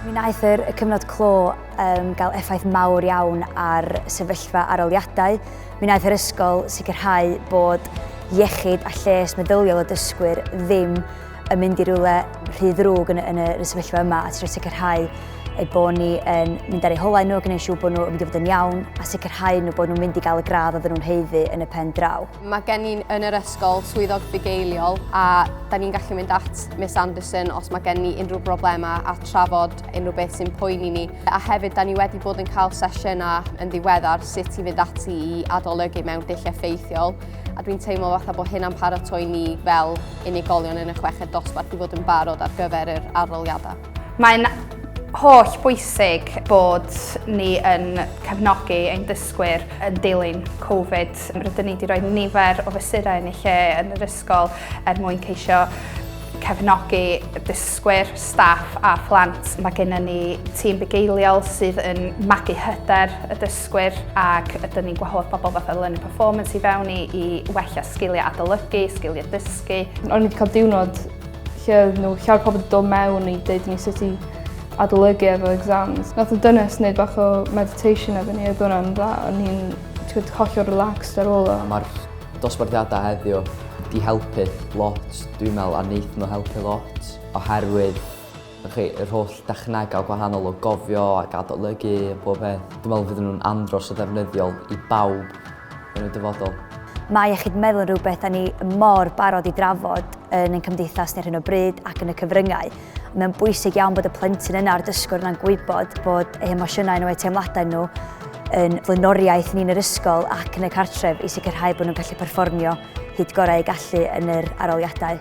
Mi wnaeth yr y cyfnod clo um, gael effaith mawr iawn ar sefyllfa aroliadau. Mi wnaeth yr ysgol sicrhau bod iechyd a lles meddyliol y dysgwyr ddim yn mynd i rywle rhy ddrwg yn, yn y sefyllfa yma a trio sicrhau ei bod ni yn mynd ar ei holau nhw, gwneud siw bod nhw'n mynd i fod yn iawn a sicrhau nhw bod nhw'n mynd i gael y gradd oedden nhw'n heiddi yn y pen draw. Mae gen ni yn yr ysgol swyddog bugeiliol a da ni'n gallu mynd at Miss Anderson os mae gen ni unrhyw broblemau a trafod unrhyw beth sy'n poeni ni. A hefyd, da ni wedi bod yn cael sesiynau yn ddiweddar sut i fynd ati i adolygu mewn dulliau ffeithiol. a dwi'n teimlo fatha bod hyn am paratoi ni fel unigolion yn y chweched dosbarth i fod yn barod ar gyfer yr aroliadau. Mae'n holl bwysig bod ni yn cefnogi ein dysgwyr yn dilyn Covid. Rydyn ni wedi rhoi nifer o fesurau yn ei lle yn yr ysgol er mwyn ceisio cefnogi dysgwyr, staff a phlant. Mae gennym ni tîm bugeiliol sydd yn magu hyder y dysgwyr dysgwyr ac ydyn ni'n gwahodd pobl fatha Learning Performance i fewn i, i wella sgiliau adolygu, sgiliau dysgu. O'n i wedi cael diwrnod lle oedd nhw llawer pobl wedi dod mewn i dweud ni sut i adolygu efo exams. Nath y dynes wneud bach o meditation efo ni, oedd hwnna'n dda. O'n i'n hollol relaxed ar ôl o. Mae'r dosbarthiadau heddiw di helpu lot, dwi'n meddwl, a wneud nhw helpu lot, oherwydd Dych chi, yr holl dechnegau gwahanol o gofio ac adolygu a pob peth, dwi'n meddwl fydden nhw'n andros o ddefnyddiol i bawb yn y dyfodol. Mae iechyd meddwl yn rhywbeth da ni mor barod i drafod yn ein cymdeithas ni ar hyn o bryd ac yn y cyfryngau. Mae'n bwysig iawn bod y plentyn yna a'r dysgwr yna'n gwybod bod eu hemosiynau nhw, eu teimladau nhw yn flaenoriaeth ni'n yr ysgol ac yn y cartref i sicrhau bod nhw'n gallu perfformio hyd gorau eu gallu yn yr aroliadau.